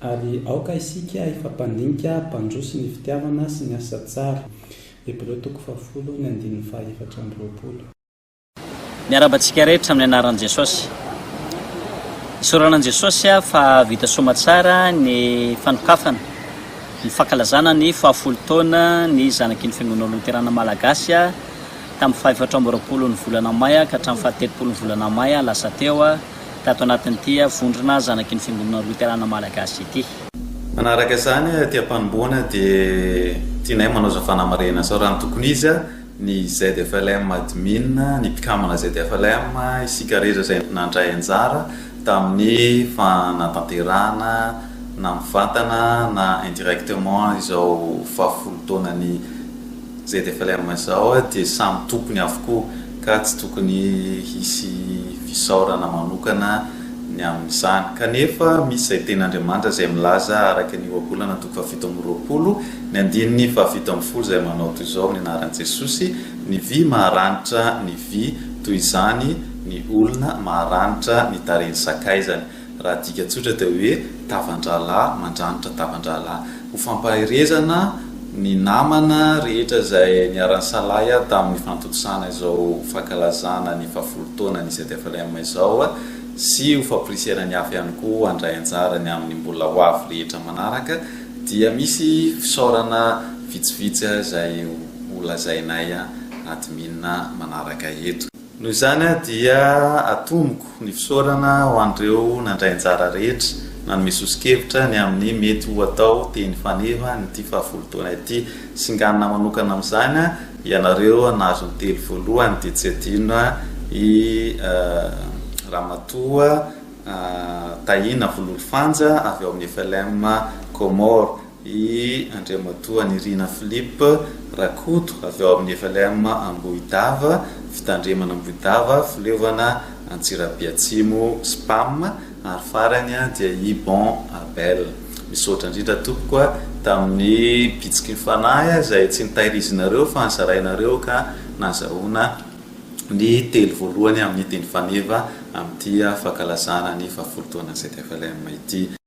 Ary aoka isika hifampandinika hampandroso ny fitiavana sy ny asa tsara. Hebreo toko fahafolo ny andininy fahaefatra amby roapolo. Miarahaba antsika rehetra amin'ny anaran'i Jesosy. Isaorana an'i Jesosy aho fa vita soamatsara ny fanokafana, ny fankalazana ny fahafolo taona ny zanaky ny Fiangonana Loterana Malagasy tamin'ny fahaefatra amby roapolon'ny volana May ka hatramin'ny fahatelopolon'ny volana May lasa teo. tato anatin'ity vondrona zanaky ny Fiangonana Loterana Malagasy ity. Manaraka izany, aty am-panombohana dia tianay manaoza fanamarihana sao raha ny tokony izy, ny ZFLM Admin, ny mpikambana ZFLM, isika rehetra izay nandray anjara tamin'ny fanatanterahana na mivantana na indirectement izao faha folo taonan'ny. ZFLM izao dia samy tompony avokoa ka tsy tokony hisy fisaorana manokana ny amin'izany. Kanefa misy izay teny Andriamanitra izay milaza araka ny ohabolana toko fahafito amby roapolo ny andininy fahafito ambin'ny folo izay manao toy izao amin'ny anaran'i Jesosy, Ny vy maharanitra ny vy, toy izany ny olona maharanitra ny tarehiny sakaizany. Raha adika tsotra dia hoe tavan-drahalahy mandranitra tavan-drahalahy. Ho fampaherezana ny namana rehetra izay niara-nisalahy ahy tamin'ny fanontosana izao fankalazana ny fahafolo taonan'ny ZFLM izao sy ho famporisihana ny hafa ihany koa handray anjarany amin'ny mbola ho avy rehetra manaraka dia misy fisaorana vitsivitsy izay ho lazainay admin manaraka eto. Noho izany aho dia atomiko ny fisaorana ho an'ireo nandray anjara rehetra nanome soso-kevitra ny amin'ny mety ho atao teny faneva an'ity fahafolo taona ity. Singanina manokana amin'izany aho, ianareo nahazo ny telo voalohany dia tsy adino i Ramatoa Tahina Vololofanja avy ao amin'ny FLM Comores. I Andriamatoa Nirina Philippe Rakoto avy ao amin'ny FLM Ambohidava, Fitandremana Ambohidava, Fileovana Antsirabe Atsimo, Spam, ary farany dia i Bon Abel. Misaotra indrindra tompoko a, tamin'ny bitsiky ny fanahy izay tsy nitairizinareo fa nizarainareo ka nazahoana ny telo voalohany amin'ny teny faneva amin'ity fankalazana ny faha folo taona ZFLM ity.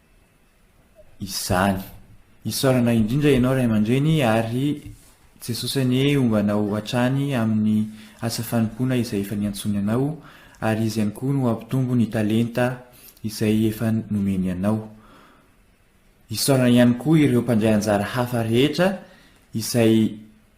izany. Isaorana indrindra ianao ray aman-dreny ary Jesosy anie homba anao hatrany amin'ny asa fanompoana izay efa niantsoany anao ary Izy ihany koa no hampitombo ny talenta izay efa nomeny anao. Isaorana ihany koa ireo mpandray anjara hafa rehetra izay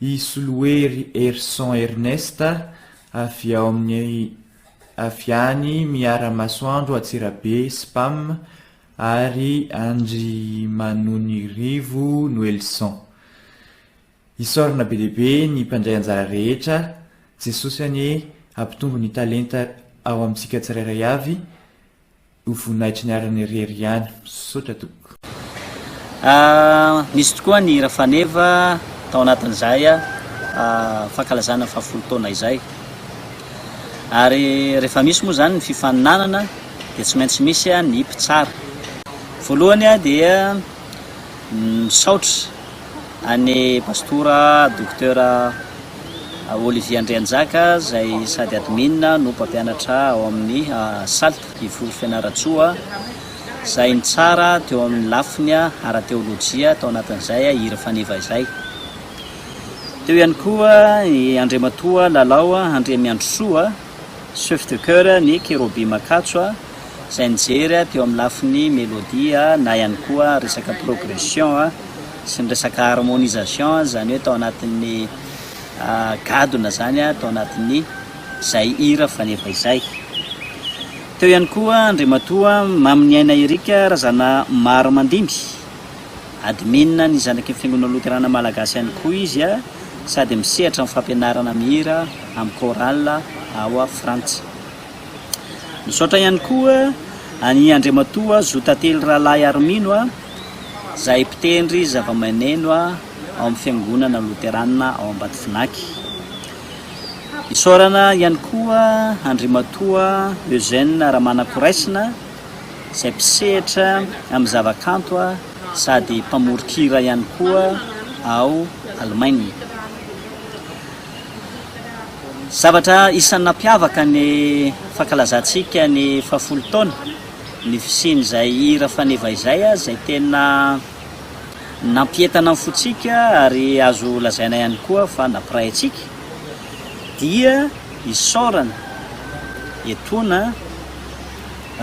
I Solohery Herison Ernest, avy ao amin'ny avy any Miaramasoandro Antsirabe, Spam, ary Andry Manonirivo Noelison. Isaorana be dia be ny mpandray anjara rehetra, Jesosy anie hampitombo ny talenta ao amintsika tsirairay avy, Ho voninahitry ny ariny irery ihany. Misaotra tompoko. Ahh nisy tokoa ny hira faneva tao anatin'izay fankalazana ny fahafolo taona izay. Ary rehefa misy moa izany ny fifaninanana dia tsy maintsy misy ny mpitsara. Voalohany dia misaotra an'i Pastora Docteur Olivier Andrianjaka izay sady admin no mpampianatra ao amin'ny Salt. Devoly Fianarantsoa, izay nitsara teo amin'ny lafiny ara-teolojia tao anatin'izay Hira Faneva izay. Teo ihany koa i Andriamatoa Lalao Andriamiandrisoa, Chef de Chœur ny Cherobim Ankatso, izay nijery teo amin'ny lafiny melodia na ihany koa resaka progression sy ny resaka harmonisation, izany hoe tao anatin'ny gadona izany, tao anatin'ny. Zay hira faneva izay. Teo ihany koa Andriamatoa Maminiaina Eric Razanamaro Mandimby, Admin ny zanaky ny Fiangonana Loterana Malagasy ihany koa izy a, sady misehatra amin'ny fampianarana mihira amin'ny chorale ao Frantsa. Misaotra ihany koa an'i Andriamatoa Zotately Rahalahy Harimino a, zay mpitendry zavamaneno ao amin'ny Fiangonana Loterana ao Ambatofinaky. Isaorana ihany koa Andriamatoa Eugène Ramanakoraisina izay mpisehatra amin'ny zavakanto sady mpamoron-kira ihany koa ao Alemaina. Zavatra isan'ny nampiavaka ny fankalazantsika ny fahafolo taona ny fisian'izay hira faneva izay izay tena nampientana ny fontsika ary azo lazaina ihany koa fa nampiray antsika dia isaorana etoana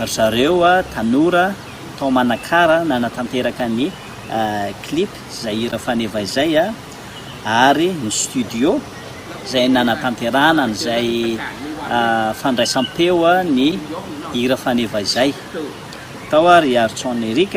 ry zareo tanora tao Manakara nanatanteraka ny clip izay hira faneva izay ary ny studio izay nanatanterahana an'izay fandraisam-peo ny hira faneva izay tao ry Artson Eric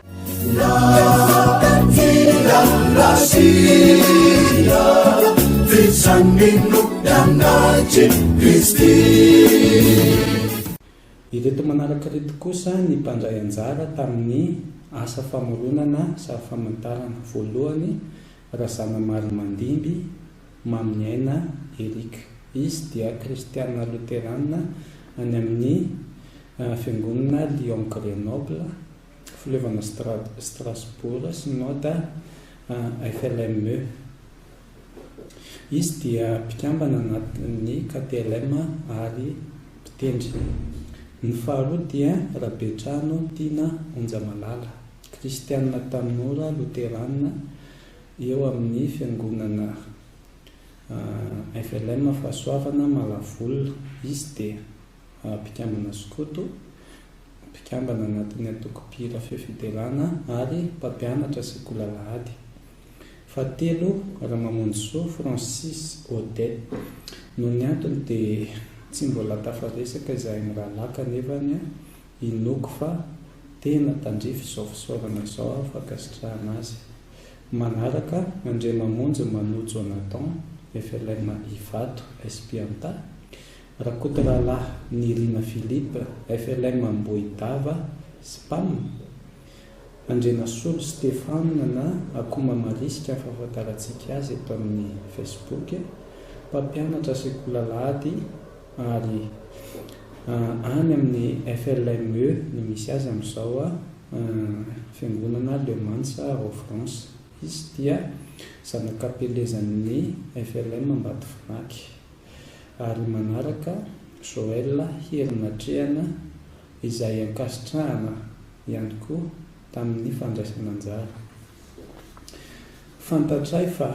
Ireto manaraka ireto kosa ny mpandray anjara tamin'ny asa famoronana sary famantarana, voalohany, Razanamaromandimby Maminiaina Eric, izy dia kristiana loterana any amin'ny Fiangonana Lyon Grenoble, Fileovana Strasbourg Synode FLME. Izy dia mpikambana anatin'ny KPLM ary mpitendry. Ny faharoa dia Rabetrano Tiana Onjamalala, kristianina tanora loterana eo amin'ny fiangonana FLM Fahasoavana Malavolona. Izy dia. mpikambana skoto, mpikambana anatin'ny antoko mpihira feo fiderana ary mpampianatra sekolalahady. Fahatelo, Ramamonjisoa Francis Odet. Noho ny antony dia tsy mbola tafaresaka izahay mirahalahy kanefa anie inoako fa tena tandrify izao fisaorana izao aho fankasitrahana azy. Manaraka, Andriamamonjy Mano Jonathan, FLM Ivato, SPIANTA. Rakotoralahy Nirina Philippe, FLM Ambohidava, Spam, Andrianasolo Stephane na Akoma Marisika ny fahafantarantsika azy eto amin'ny Facebook, mpampianatra sekolalahady ary any amin'ny FLME no misy azy amin'izao, Fiangonana Le Mans ao France. Izy dia zanak'Ampelezan'ny FLM Ambatovonaky. ary manaraka Joel Herinatrehana izay ankasitrahana ihany koa tamin'ny fandraisana anjara. Fantatray fa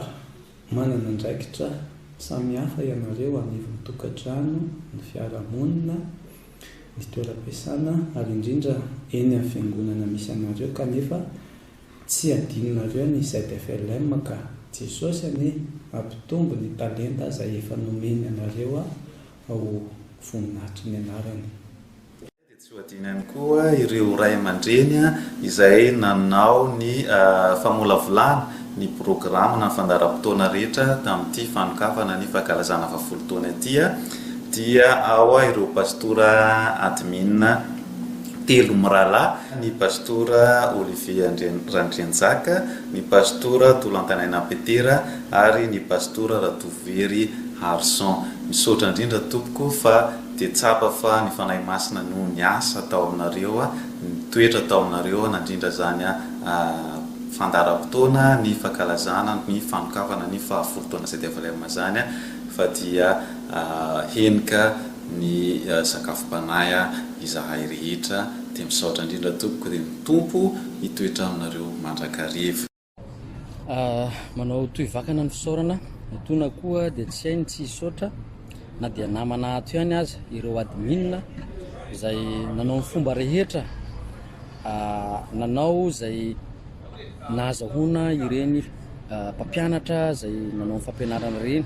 manana andraikitra samihafa ianareo anivon'ny tokantrano, ny fiarahamonina, ny toeram-piasana ary indrindra eny amin'ny fiangonana misy anareo kanefa Tsy adinonareo ny ZFLM ka. Jesosy anie ampitombo ny talenta aza efa nomeny anareo ao voninahitry ny anarany. Dia tsy ho adino ihany koa ireo ray aman-dreny izay nanao ny famolavolana ny programa na ny fandaharam-potoana rehetra tamin'ity fanokafana ny fankalazana faha folo taona ity dia ao ireo pastora admin. telo mirahalahy, ny Pastora Olivier Randrianjaka, ny Pastora Tolantanaina Petera ary ny Pastora Ratovohery Harison. Misaotra indrindra tompoko fa dia tsapa fa ny Fanahy Masina no niasa tao aminareo, nitoetra tao aminareo nandrindra izany fandaharam-potoana ny fankalazana ny fanokafana ny faha folo taona ZFLM izany fa dia henika ny sakafom-panahy ah izahay rehetra dia misaotra indrindra tompoko dia ny Tompo hitoetra aminareo mandrakariva. Ah, manao toy vakana ny fisaorana, mitoana koa dia tsy hay ny tsy hisaotra na dia namana ato ihany aza, ireo admin izay nanao ny fomba rehetra ah, nanao izay nahazahoana ireny ah, mpampianatra izay nanao ny fampianarana ireny.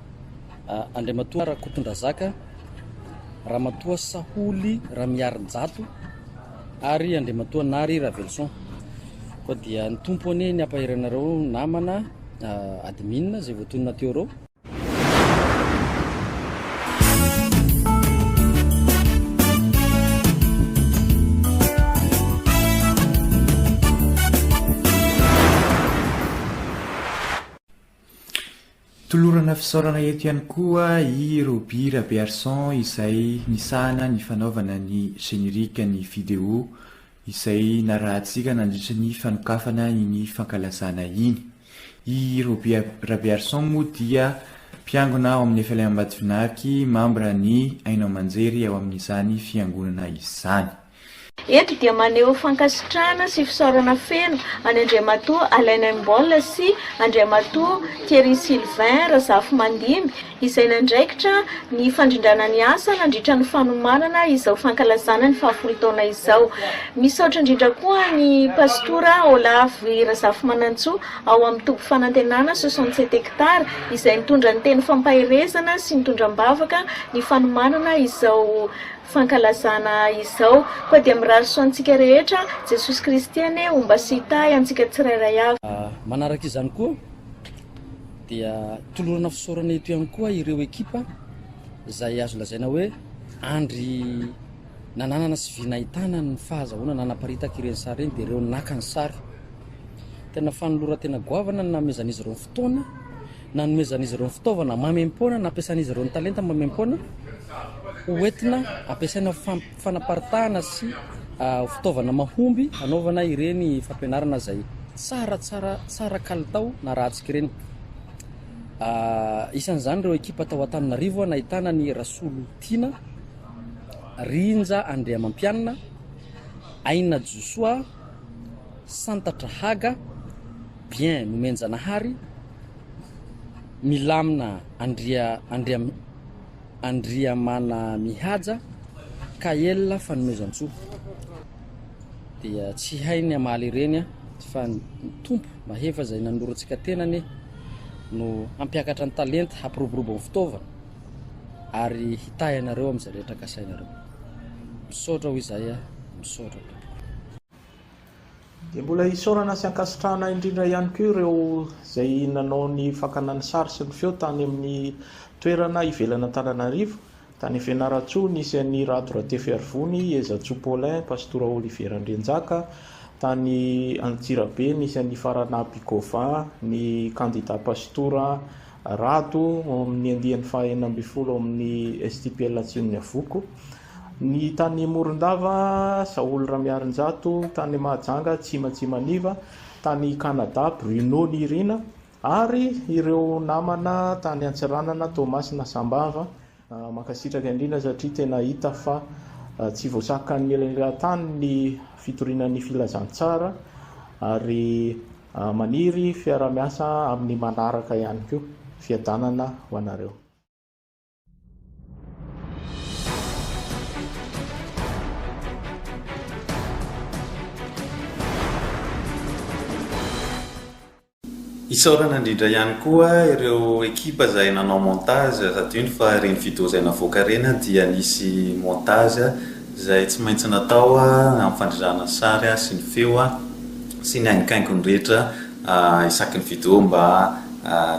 Andriamatoa Rakotondrazaka, Ramatoa Saholy Ramiarijato ary Andriamatoa Nary Ravelison. Koa dia ny tompo anie ny ampaheranareo namana ah, admin izay voatonona teo reo. Tolorana fisaorana eto ihany koa i Roby Rabearison izay nisahana ny fanaovana ny générique ny vidéo izay narahantsika nandritra ny fanokafana iny fankalazana iny. I Roby Rabearison moa dia mpiangona ao amin'ny FLM Ambatofinarky, membre ny haino aman-jery ao amin'izany fiangonana izany. Eto dia maneho fankasitrahana sy fisaorana feno an'i Andriamatoa Alain Imboll sy Andriamatoa Thierry Sylvain Razafimandimby izay nandraikitra ny fandrindrana ny asa nandritra ny fanomanana izao fankalazana ny fahafolo taona izao. Misaotra indrindra koa an'i Pasitora Olavo Razafimanantsoa ao amin'ny Toby Fanantenana soixante sept hectares izay nitondra ny teny fampaherezana sy nitondra am-bavaka ny fanomanana izao fankalazana izao. Koa dia mirary soa antsika rehetra Jesosy Kristy anie ho mba sy hitahy antsika tsirairay avy. Manaraka izany koa dia tolorana fisaorana eto ihany koa ireo ekipa izay azo lazaina hoe andry nananana sy vy nahitana ny fahazahoana nanaparitaka ireny sary ireny dia ireo naka ny sary. Tena fanoloran-tena goavana ny nanomezan'izy ireo ny fotoana nanomezan'izy ireo ny fitaovana maimaim-poana nampiasan'izy ireo ny talenta maimaim-poana ho entina ampiasaina ho fam- fanaparitahana sy ah, ho fitaovana mahomby hanaovana ireny fampianarana izay tsara tsara tsara kalitao na ratsika ireny Ah, isan'izany ireo ekipa tao Antananarivo ah, nahitana ny Rasolotiana Rinja Andriamampianina Aina Josoa Santatra Haga Bien Nomenjanahary milamina Andria Andria Andriamanamihaja ka ela fanomezantsoa dia tsy hainy hamaly ireny fa ny Tompo mahefa izay nanorantsika tena anie no hampiakatra ny talenta hampiroborobo ny fitaovana ary hitahy anareo amin'izay rehetra kasainareo misaotra ho izay misaotra tompoko Dia mbola isaorana sy ankasitrahana indrindra ihany koa ireo izay nanao ny fakana ny sary sy ny feo tany amin'ny toerana ivelan' Antananarivo, tany Fianarantsoa, nisy an'i Rado Ratefiarivony, Ezatsoa Paulin, Pastora Olivier Randrianjaka, tany Antsirabe nisy an'i Faranaby Gauvin, ny kandida Pastora Rado ao amin'ny andiany faha enina ambin'ny folo ao amin'ny STPL Atsimon'ny Avoko. Ny tany Morondava, Saholy Ramiarinjato, tany Mahajanga, Tsima Tsimaniva, tany Canada, Bruno Nirina, ary ireo namana tany Antsiranana, Toamasina, Sambava. Mankasitraka indrindra satria tena hita fa tsy voasakan'ny elanelan-tany ny fitoriana ny filazantsara ary maniry fiarahamiasa amin'ny manaraka ihany koa. Fiadanana ho anareo. Isaorana indrindra ihany koa ireo ekipa izay nanao montage sady indro fa ireny video izay navoaka ireny dia nisy montage izay tsy maintsy natao amin'ny fandrindrana ny sary sy ny feo sy ny hainkaingony rehetra Ahh isaky ny vidéo mba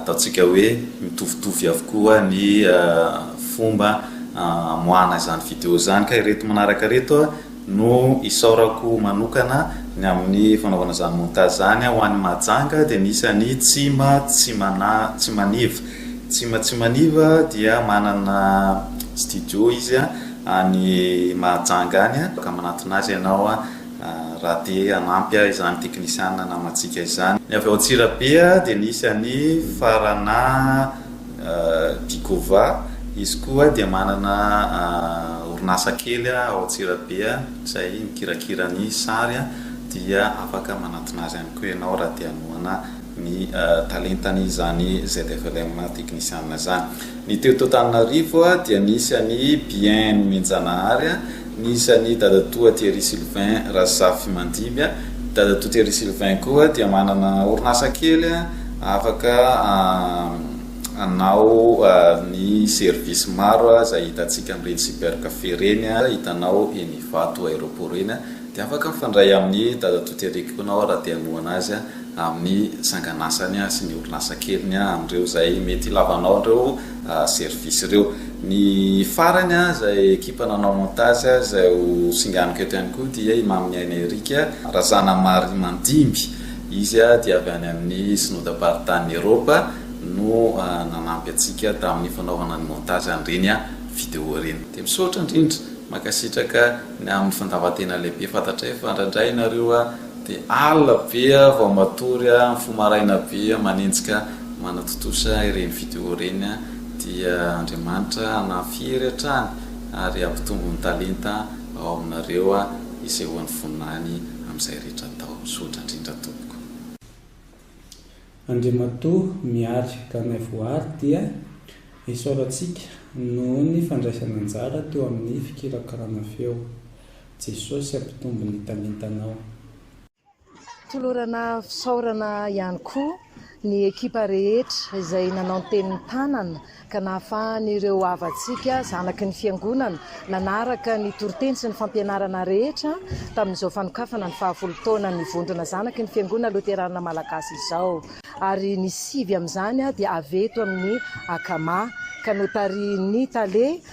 ataontsika hoe mitovitovy avokoa ny fomba amoahana izany vidéo izany ka ireto manaraka ireto no isaorako manokana ny amin'ny fanaovana izany montage izany ho an'i Mahajanga dia misy an'i Tsima Tsimaniva Tsima Tsimaniva dia manana studio izy any Mahajanga any ka manantona azy ianao Raha te hanampy ahy izany teknisiana namantsika izany. Ny avy ao Antsirabe dia nisy an'i Faranà Dikova, izy koa dia manana orinasa kely ao Antsirabe izay mikirakira ny sary dia afaka manantona azy ihany koa ianao raha te hanohana. ny talentan' izany ZFLM teknisiana izany. Ny teo Antananarivo dia nisy an' i Bien Nomenjanahary, nisy an' i Dadatoa Thierry Sylvain Razafimandimby. Dadatoa Thierry Sylvain koa dia manana orinasa kely afaka hanao ny service maro izay hitantsika amin' ireny cybercafé ireny, hitanao eny Ivato aéroport eny, dia afaka mifandray amin' i Dadatoa Thierry koa ianao raha te hanohana azy. amin'ny sanganasany sy ny orinasa keliny amin'ireo izay mety hilavanao an'ireo services ireo. Ny farany izay ekipa nanao montage izay ho singaniko eto ihany koa dia i Maminiaina Eric Razanamarimandimby, izy dia avy any amin'ny Synodam-paritanin'i Eropa no nanampy antsika tamin'ny fanaovana ny montage an'ireny video ireny. Dia misaotra indrindra, mankasitraka ny amin'ny fandavan-tena lehibe, fantatray fa indraindray ianareo Dia alina be aho vao matory an, mifoha maraina be aho manenjika manatontosa ireny video ireny an, dia Andriamanitra hanafiery hatrany ary hampitombo ny talenta ao aminareo an, isehoan'ny voninahiny amin'izay rehetra atao. Misaotra indrindra tompoko. Andriamatoa Mihary Ganaivohary dia isaorantsika noho ny fandraisana anjara teo amin'ny fikirakirana feo. Jesosy ampitombo ny talentanao. Tolorana fisaorana ihany koa ny ekipa rehetra izay nanao ny tenin'ny tanana ka nahafahan'ireo havantsika zanaky ny fiangonana nanaraka ny toriteny sy ny fampianarana rehetra tamin'izao fanokafana ny fahavolo taonan'ny vondrona zanaky ny fiangonana loterana malagasy izao ary ny sivy amin'izany dia avy eto amin'ny Akama ka notarihin'ny tale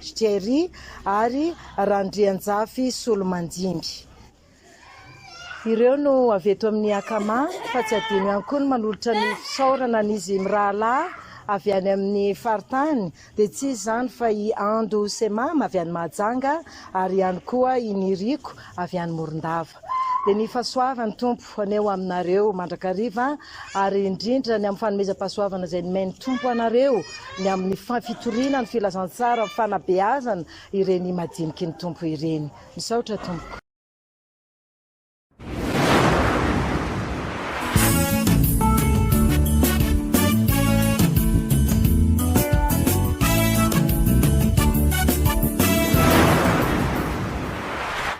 Jerry ary Randrianjafy Solomandimby. Ireo no avy eto amin'ny Akama fa tsy adino ihany koa ny manolotra ny fisaorana an'izy mirahalahy avy any amin'ny faritany dia tsy iza izany fa i Ando sy Mama avy any Mahajanga ary ihany koa i Niriko avy any Morondava. Dia ny fahasoavan'ny Tompo. Ho anay ho aminareo mandrakariva ary indrindra ny amin'ny fanomezam-pahasoavana izay nomen'ny Tompo anareo ny amin'ny fitoriana ny filazantsara amin'ny fanabeazana ireny madiniky ny Tompo ireny. Misaotra Tompoko.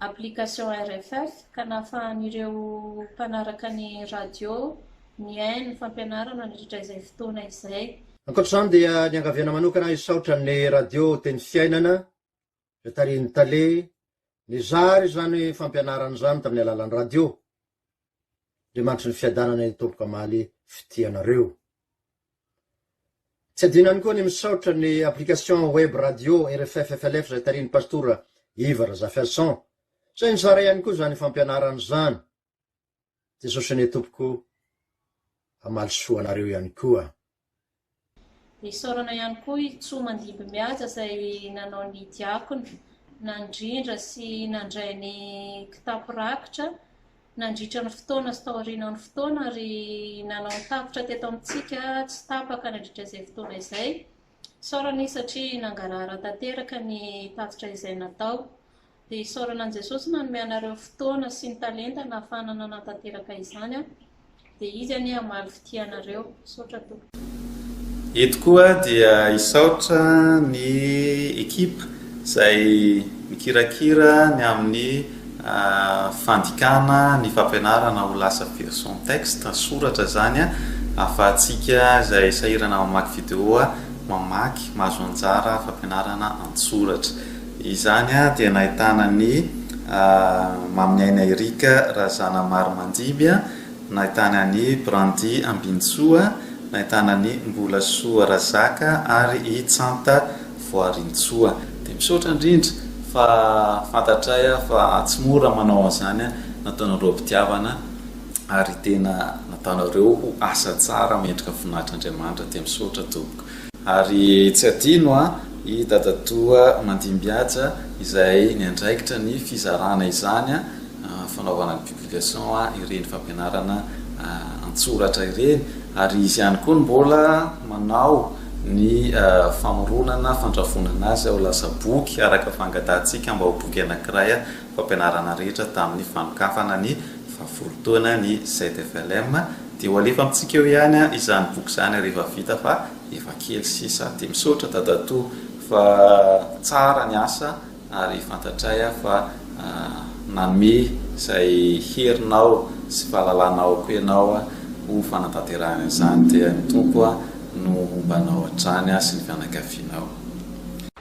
application RFF ka nahafahan'ireo mpanaraka ny radio nihaino ny fampianarana nandritra izay fotoana izay. Ankoatra izany dia niangaviana manokana hisaotra ny radio Teny Fiainana izay tarihin'ny Tale nizara izany fampianarana izany tamin'ny alalan'ny radio Andriamanitry ny fiadanana ny Tompo kamaly fitia anareo. Tsy adino ihany koa ny misaotra ny application web radio RFF FLF izay tarihin'ny Pastora Iva Razafiarison izay nizara ihany koa izany fampianarana izany. Jesosy anie Tompoko hamaly soa anareo ihany koa. Isaorana ihany koa i Tso Mandimbimihaja izay nanao ny diakona, nandrindra sy nandray ny kitapo rakitra nandritra ny fotoana sy taorianan'ny fotoana ary nanao ny tafitra teto amintsika tsy tapaka nandritra izay fotoana izay. Isaorana izy satria nangarahara tanteraka ny tatitra izay natao. Dia isaorana an'i Jesosy nanome anareo fotoana sy ny talenta nahafahana nanatanteraka izany, dia Izy anie hamaly fitia anareo. Misaotra tompoko. Eto koa dia hisaotra ny ekipa izay mikirakira ny amin'ny fandikana ny fampianarana ho lasa version texte, soratra, izany ahafahantsika izay sahirana mamaky video mamaky, mahazo anjara fampianarana an-tsoratra. Izany dia nahitana an'i Maminiaina Eric Razanamarimanjimby, nahitany an'i Brandy Ambinintsoa, nahitana an'i Mbolasoa Razaka ary i Tsanta Voarintsoa. Dia misaotra indrindra fa fantatray fa tsy mora manao an'izany nataonareo am-pitiavana ary tena nataonareo ho asa tsara mendrika voninahitr'Andriamanitra dia misaotra tompoko. Ary tsy hadino an, i dadatoa Mandimbihaja izay niandraikitra ny fizarana izany an, fanaovana ny publication an ireny fampianarana an-tsoratra ireny, ary izy ihany koa no mbola manao ny famoronana, fandrafonana azy ho lasa boky araka fangatahantsika mba ho boky anankiray an, fampianarana rehetra tamin'ny fanokafana ny faha folo taona ny ZFLM. Dia ho alefa amintsika eo ihany izany boky izany rehefa vita fa efa kely sisa. Dia misaotra dadatoa fa tsara ny asa ary fantatray aho fa nanome izay herinao sy fahalalana ao koa ianao ho fanatanterahana izany. Dia ny Tompo no homba anao hatrany sy ny fianakavianao.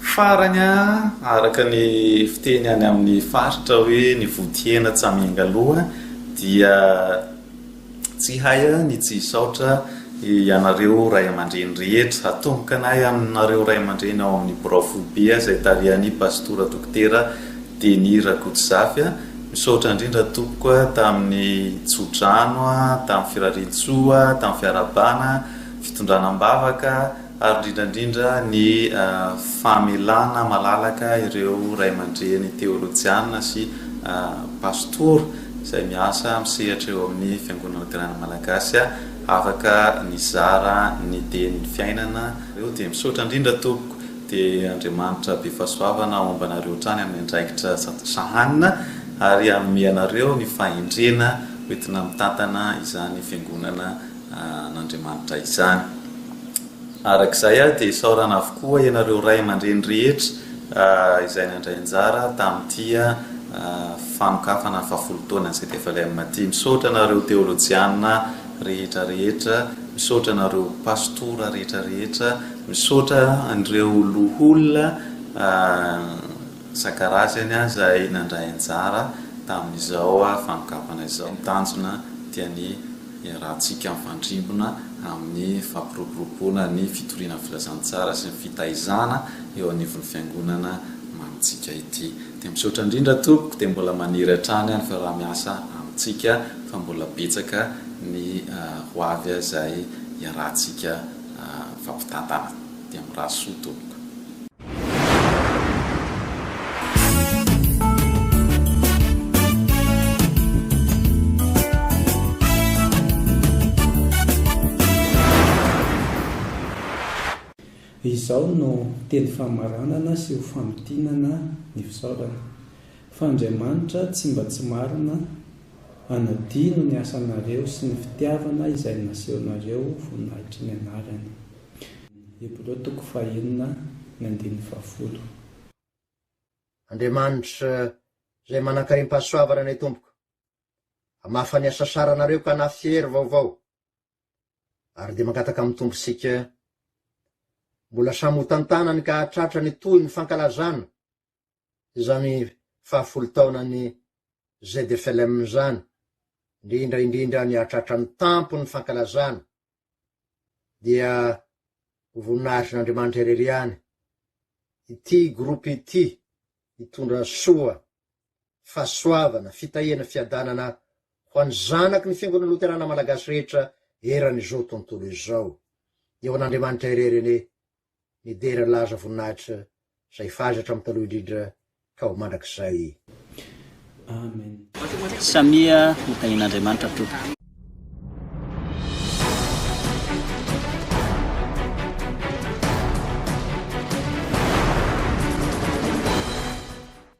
Farany, araka ny fiteny any amin'ny faritra hoe ny vodihena tsy amiangaloha dia tsy hay ny tsy hisaotra ianareo ray aman-dreny rehetra, hatomboka na ianareo ray aman-dreny ao amin'ny birao foibe izay tarihan'i Pastora Dokotera Denis Rakotozafy, misaotra indrindra tompoko tamin'ny tso-drano, tamin'ny firarian-tsoa, tamin'ny fiarahabana, fitondrana am-bavaka, ary indrindra indrindra ny famelana malalaka ireo ray aman-dreny teolojiana sy pastora izay miasa amin'ny sehatra eo amin'ny Fiangonana Loterana Malagasy afaka nizara ny dieny fiainana nareo dia misaotra indrindra tompoko dia Andriamanitra be fahasoavana homba anareo hatrany amin'ny andraikitra sahanina ary hanome anareo ny fahendrena hoentina mitantana izany Fiangonana an'Andriamanitra izany. Araka izay aho dia isaorana avokoa ianareo ray aman-dreny rehetra izay nandray anjara tamin'ity fanokafana fahafolo taonan'ny ZFLM ity. Misaotra anareo teolojiana rehetra rehetra, misaotra anareo pastora rehetra rehetra, misaotra an'ireo loholona isan-karazany izay nandray anjara tamin'izao fanokafana izao. Ny tanjona dia ny. iarahantsika mifandrimbona amin'ny fampiroboroboana ny fitoriana ny filazantsara sy ny fitaizana eo anivon'ny Fiangonana manintsika ity. Dia misaotra indrindra tompoko dia mbola maniry hatrany aho ny fiaraha-miasa amintsika fa mbola betsaka ny ho avy izay iarahantsika mifampitantana. Dia mirary soa tompoko. Izao no teny famaranana sy ho famintinana ny fisaorana, Fa Andriamanitra tsy mba tsy marina hanadino ny asanareo sy ny fitiavana izay nasehonareo voninahitry ny anarany. Hebreo toko fahenina ny andininy fahafolo. Andriamanitra Izay manankarim-pahasoavana ny Tompoko, hamafa ny asasaranareo ka hanafy hery vaovao, ary dia mangataka amin'ny Tompo isika mbola samy hotantanany ka hahatratra ny tohin'ny fankalazana izany fahafolo taonan'ny ZFLM izany, indrindra indrindra ny hahatratra ny tampon'ny fankalazana dia ho voninahitr'Andriamanitra irery ihany ity groupe ity hitondra soa, fahasoavana, fitahiana, fiadanana ho an'ny zanaky ny Fiangonana Loterana Malagasy rehetra eran'izao tontolo izao. Eo an'Andriamanitra irery anie nidera laza voninahitra zay f'azy hatramin'ny taloha indrindra ka ho mandrakizay. Amen. Samia ho tahin'Andriamanitra tompoko.